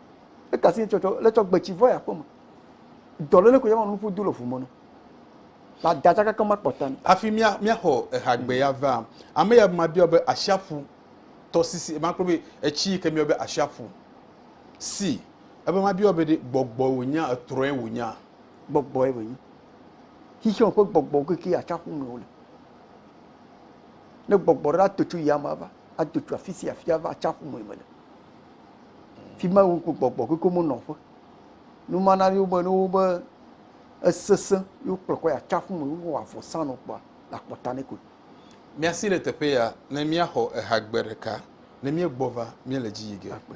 Eka asi tsɔtsɔ le tsɔ gbetsi vɔ ya kpɔma. Dɔ lele ko ya ma nu ƒu du le fu mɔnu. La da tsaka kama kpɔta ni. Afi mia mia xɔ eha gbe ya va. Ame ya ma biɔ be asia ƒu tɔ sisi ma kpɔ be etsi ke miɔ be asia ƒu. Si ebe ma biɔ be ɖe gbɔgbɔ wo nya etrɔe wo nya. Gbɔgbɔ ye be nya. Xixi wo ƒe gbɔgbɔ ke ke atsa ƒu me wo le. Ne gbɔgbɔ ɖe atotsu ya ma va atotsu afisi afia va atsa ƒu me me le. fima wokpɔ gbɔgbɔ keke me nɔƒe numana ɖi wobe ɖowo be esese yo kplɔ kɔ ya tsaƒu me wo wa vɔ sa no kpɔ la kpɔ ta ne ko mia si le teƒe ya ne mia xɔ eha gbe ɖeka ne mie gbɔ va mie le dzi yige akpe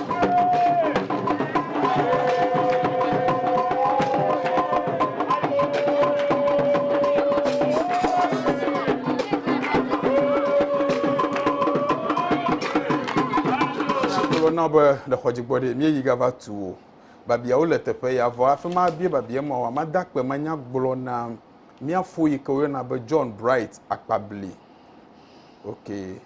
na be le xɔ dzi gbɔ ɖe mi yi gava tu o babiawo le teƒe ya vɔ afi ma bie babia ma wa ma da kpe ma nya gblɔ na mia fo yi ke wo na be John Bright akpabli okay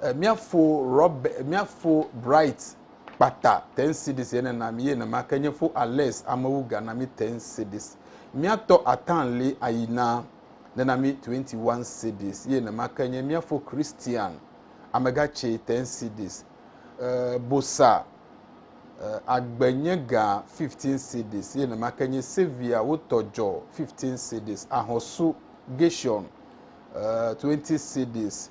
E mia fo rɔb e mia fo bright kpata ten cities ene na mi ye ne ma ke nye fo ales amewu ga na mi ten cities mia tɔ atan li ayi na ne na mi 21 cities ye ne ma ke nye mia fo christian amega che ten cities e bosa e agbe nye ga 15 cities ye ne ma ke nye sevia wo tɔ jɔ 15 cities ahosu gation e 20 cities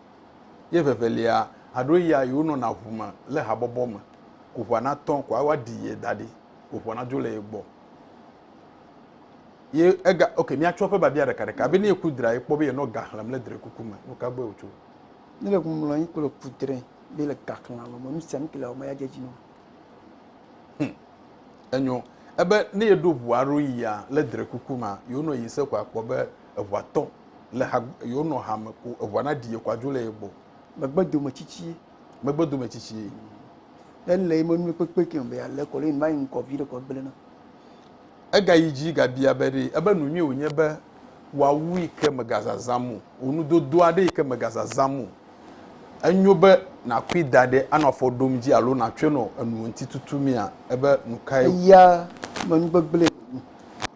ye evevelia aɖo ya yi wonɔna ŋu me le habɔbɔ me ko ŋua natɔ ko woaɖi ye da ɖi ko ŋua nadzo le ye gbɔ. Ye ega ok míatsɔ eƒe biabia ɖekaɖeka be ne ye kudra ye kpɔ be yenɔ ga xlẽm le drekuku me nu ka gbɔe wòtso. Ne le ŋumlɔ anyi kple kudre be le ga xlẽm alo me nu sia nu ke le ewɔm ya dze edzi nɔ. Hm, enyo. Ebe ne yeɖo ŋua aɖo yia le drekuku mea yewonɔ yi se ko akpɔ be eʋua tɔ le ha yewo nɔ ha me ko eʋua na ɖi ekɔ adzo le ye gbɔ. Megbe dome tsitsi. Megbe dome tsitsi. Ele yi me nu kpekpe ke be ale kɔ le va yi ŋkɔ vi ɖe kɔ gble na. Ega yi dzi ga bia be ɖe ebe nu nyuie wonye be wa wu yi ke mega zazã mo. Wo nu dodo aɖe yi ke mega zazã mo. Enyo be na kui da ɖe anɔ afɔ ɖom dzi alo na tsɔe nɔ enu ŋuti tutu mea ebe nu kae. Eya me nu gbegble.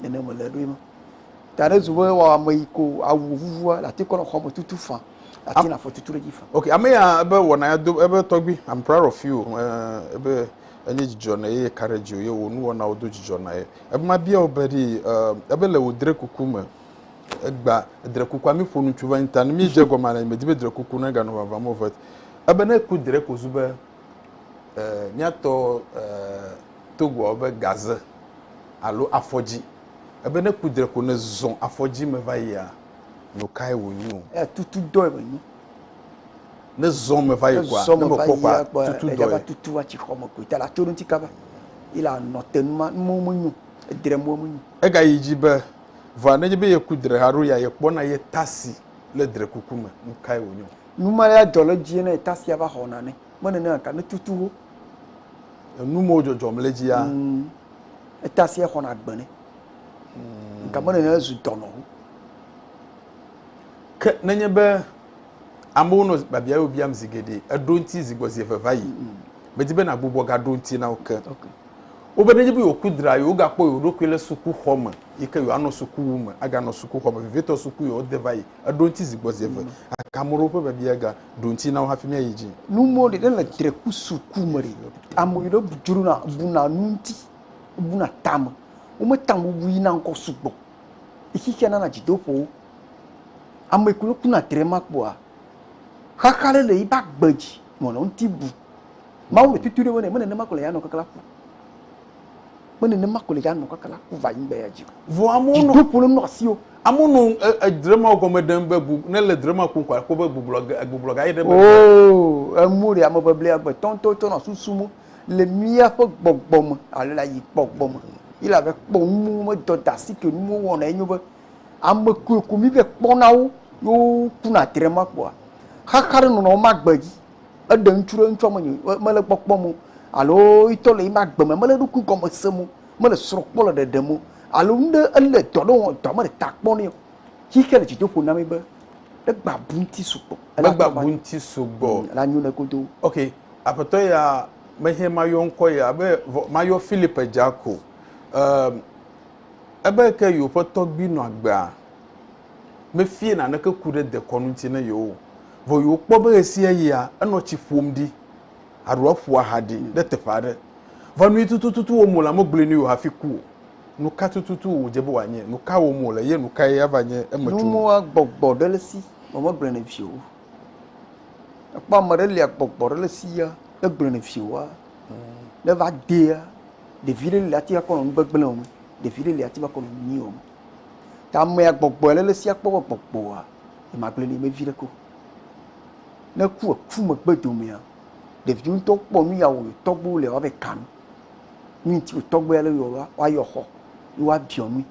nene me le ɖo ema ta ne zu be wɔ ame yi ko awu vuvua la te kɔ xɔ me tutu fa la te na fɔ tutu ɖe dzi fa ok ame ya ebe wɔna ya do ebe tɔgbi i'm proud of you uh, ebe enye dzidzɔ na ye courage ye wo nu wɔna wo do dzidzɔ na ye ebe ma bia wo be di uh, ebe le wo dre kuku me egba dre kuku ami ƒo nutsu va nyi ta ne mi dze gɔma le me di be dre kuku ne ga no vava mo vet ebe ne ku dre ko zu be eh, míatɔ eh, Togoa be gaze alo afɔdzi. Ebe ne ku dre ko ne zɔ afɔdzi me va yia, nu kae wònyo? Eh, tutu dɔe wònyo. Ne zɔ me va yi kɔa, ne me kpɔ kɔa, tutu dɔe. Eɖe tutu atsi xɔ me koe, tala tso ɖe ŋuti kaba. Ile anɔ te nu ma, nu mo menyo, edre mo menyo. Ega yi dzi be, vɔa ne nye be ye ku dre ha ɖo ya, ye kpɔ na ye tasi le dre kuku me, nu kae wònyo? Nu ma ya dzɔ ɖe edzi ne tasia va xɔna ne mene ne aka ne tutu wo. Enu mo dzɔdzɔm le dzia. Mm. Etasia xɔna agbe ne. Mm. Nka mene ne zu dɔnɔ wo. Ke nenye be amewo nɔ babia yo biam zi geɖe eɖo ŋuti zi gbɔ zi eve va yi. Mm. Medi be nagbugbɔ ga ɖo ŋuti na wo ke. Okay. Wo be nenye be yo ku dra yo ga kpɔ yo ɖokui le suku xɔ me yi ke yo anɔ suku wu me aga nɔ suku xɔ me vivitɔ suku yo de va yi. Eɖo ŋuti zi gbɔ zi eve. Aka amewo ƒe biabia ga ɖo ŋuti na wo hafi míayi dzi. Nu mɔ ɖe le dreku suku me ɖe. Ame ɖe dzrona buna nu ŋuti, buna tame. Wometa ŋu bui na ŋkɔ sugbɔ. Xexea nana dzidoƒowo. Ame yi ke ne kuna dre ma kpɔa, xaxa ɖe le yiƒe agbe dzi nɔnɔ ŋuti bum. Mawu le tutu ɖe me nɛ. Menema ko le ya nɔ keklea ku. me nenema ko le ya nɔ kaka la ku va anyigba ya dzi o. Vɔ amewo nɔ dzidoƒo le nɔ asi o. Amewo nɔ edrema e, gɔme ɖem be bu ne le drema kum ko akpɔ be gbublɔ gbublɔ ga ye ɖe me. Oo, emu ɖe ame ʋeʋli agbetɔ ŋutɔ tsɔ nɔ susu mo le míaƒe gbɔgbɔ me alo le ayi gbɔgbɔ me. Yi la ve kpɔ nuwo me dɔ da si ke nuwo wɔna enyo be ame koe ko mi ve kpɔna wo yo kuna drema kpoa xaxa ɖe nɔnɔ wo ma gbe dzi. Eɖe ŋutsu ɖe ŋutsua menye mele kpɔkpɔ mo alo yitɔ le yima gbe me mele ɖokui gɔme se mo mele srɔ kpɔ le ɖeɖe mo alo nuɖe ele dɔ ɖe wɔm dɔ mele ta kpɔ nɛ o. Xixea le dzidoƒo na mi be egba bu ŋuti sugbɔ. Megba bu ŋuti sugbɔ. Ele anyo ne kodo. Ok, aƒetɔ ya mehiã mayɔ ŋkɔ ya be mayɔ Philip dza ko. Ehm, ebe ke yewoƒe tɔgbui nɔ agbea. mefia naneke ku ɖe dekɔnu ŋuti na yewo o. Vɔ yewokpɔ be ɣesiaɣia enɔ tsi ƒom ɖi alo eƒo aha ɖi ɖe teƒe aɖe. Vɔ nui tututu wɔm wòle, amegblɔe nɛ o hafi ku o. Nuka tututu wòdze be wòanye? Nuka wɔm wòle ye nukae ava nye eme tso ŋu? Agbɔgbɔ ɖe le si vɔ megblɔe nɛ vie o. Ekpɔ ame ɖe li agbɔgbɔ ɖe le sia megblɔe nɛ vie oa, ne eva dea, ɖevi ɖe li ate ŋu akɔ nɔ nu gbegblẽ wɔm, ɖevi ɖe li ate ŋu akɔ nɔ nu nyui wɔm. Ta amea gbɔgbɔe le le sia kpɔwɔ gbɔgbɔa, ye magblẽ nɛ vevi ɖe ko. Ne ku eku megbe domea, ɖevi ŋutɔ kpɔ nu ya wòyɔ tɔgbewo le woabe kanu. Nu yi ti wò tɔgbe ale yɔ ɖoa, woayɔ xɔ, ye woabiɔ nui.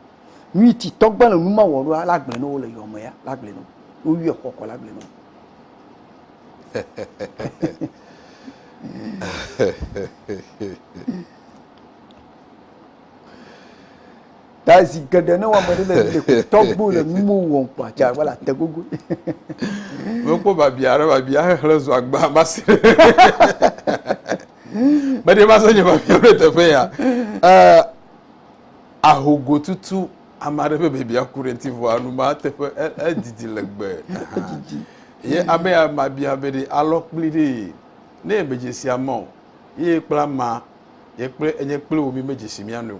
Nu yi ti tɔgbe le nu ma wɔ ɖoa, la gblẽ ne wole yɔ me ya, la gblẽ ne wo. Woyɔe xɔ kɔ la gblẽ ne wo. Ta zi geɖe ne wɔme ɖe le le tɔgbo le nu mo wɔm kpa tsa wala te gogo. Mekpɔ babia ɖe babia xexlẽ zɔ agba basi. Meɖe ma se nye babia ɖe teƒe ya. Eh, ahogo tutu ame aɖe ƒe babia ku ɖe ŋuti vɔ anu ma teƒe edidi legbe. Ye ame ya mabia be ɖe alɔ kpli ɖe ne medzesi ama o. Ye kpla ma ye kple enye kple wo mi medzesi mia nu o.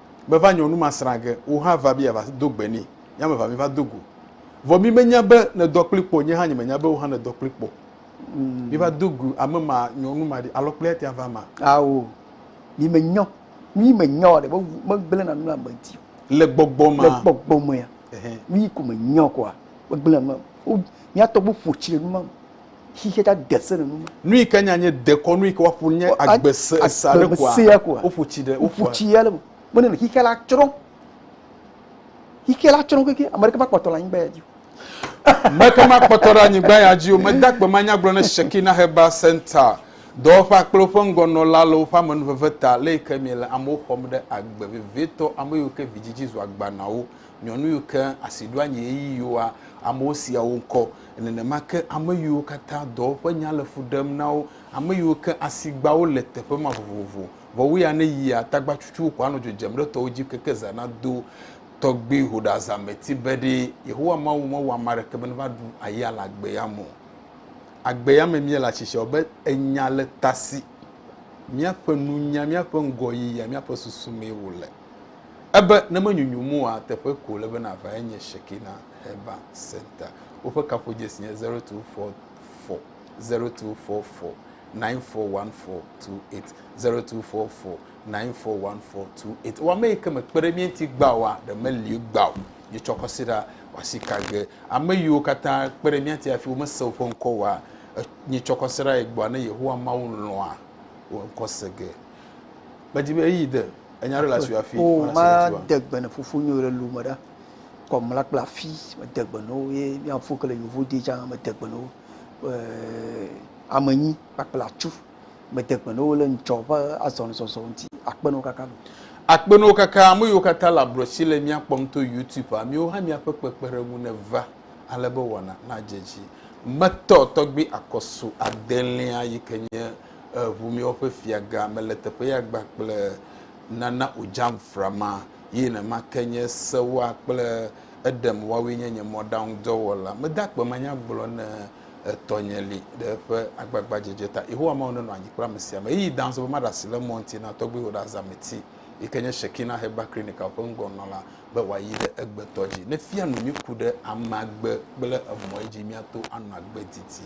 meva nyɔnu ma srã ge, wò hã va be yeava do gbe nɛ, ye ame evea míva do go. Vɔ mí menya be nèdɔ kpli kpɔ o, nye hã nyemenya be wò hã nèdɔ kpli kpɔ o. Míva do go ame ma, nyɔnu ma ɖi, alɔkplia tea va ma? Ao, mí menyɔ, mí menyɔ ɖe, me, megblẽ na nu ame di o. Le gbɔgbɔ ma. Le gbɔgbɔ mea, mí ko menyɔ kɔa, megblẽ na nu ame, wo, mía tɔgbuiwo ƒo tsi ɖe nu ma me. xixia ta de se nenema. Nu yi ke nya nye dekɔnu yi ke woaƒo nye agbese esa ɖe koa. Agbesea koa. Woƒo tsi ɖe. Woƒo tsi ya le me. Mene le xixia la tsrɔ̃. Xixia la tsrɔ̃ keke ame ɖeka makpɔtɔ le anyigba ya dzi. Meke makpɔtɔ ɖe anyigba ya dzi o. Meda akpe ma nya gblɔ ne Shekina Heba Center dɔwɔƒea kple woƒe ŋgɔnɔla le woƒe amenuveve ta le yi ke miele amewo xɔm ɖe agbe vevietɔ, ame yiwo ke vidzidzi zu agbanawo. Nyɔnu yiwo ke asiɖoanyi ɣeyiɣiwoa, amewo sea wo ŋkɔ. Nenema ke ame yiwo katã dɔwo ƒe nya le fu ɖem na wo, ame yiwo ke asigbawo le teƒe ma vovovo. Vɔ wu ya ne yia, tagbatsutsuwo ko anɔ dzo dzem ɖe tɔwo dzi keke zã nado. Tɔgbui hoɖeazãmeti be ɖee, Yehowa Mawu mewɔ ame aɖeke be neva ɖu aya le agbea me o. Agbea me míele atsitsiawo be enya le tasi míaƒe nunya, míaƒe ŋgɔyiyia, míaƒe susu mee wòle. Ebe ne menyunyum oa, teƒe ko wòle be nàva ye nye Shekinah Herbal Centre. Woƒe kaƒodzesi nye 0244-0244-9414, 0244-941428. Ewɔ ame yi ke mekpe ɖe mía ŋuti gbã oa, ɖe meli o gbã o. Míetsɔ kɔsiɖa wɔ asi ka ge. Ame yiwo katã kpe ɖe mía ŋuti hafi womese woƒe ŋkɔ oa, míetsɔ kɔsiɖa yi gbɔa, ne Yehowa Mawu lɔ̃a, wo ŋkɔ se ge. Medi be eyi de enya ɖe le asi afi. O ma de gbe ne fofo nyo le lume ɖa. Kɔ mla kple afi me de gbe no ye mi afo kele yovo de ja me de gbe no. Eh amenyi kpakple achu me de gbe no le ntsɔ va azɔn zɔzɔ nti akpe no kaka no. Akpe no kaka ame yo kata la brochi le mi akpɔm to YouTube a mi wo ha mi aƒe kpekpe ɖe ŋu ne va ale be wɔna na dze dzi. Metɔ tɔgbi akɔsu adelia yi ke nye Eŋu miwo ƒe fiagã mele teƒeya gba kple nana o dzam frama, ye nenema ke nye sewoa kple eɖem woawoe nye nye mɔɖaŋudɔwɔla. Mede akpe manya gblɔ ne etɔnye li ɖe eƒe agbagbadzedze ta. Yehowa Mawu nenɔ anyi kple ame sia ame. Ɣeyiɣi dã sɔ be maɖe asi le mɔ ŋuti na tɔgbuiwò ɖe azameti, yi ke nye Shekinah Heber Clinical ƒe ŋgɔnɔla, be wòayi ɖe egbetɔ dzi. Ne fia nu mí ku ɖe amea gbe kple emɔe dzi míato anɔ agbe didi.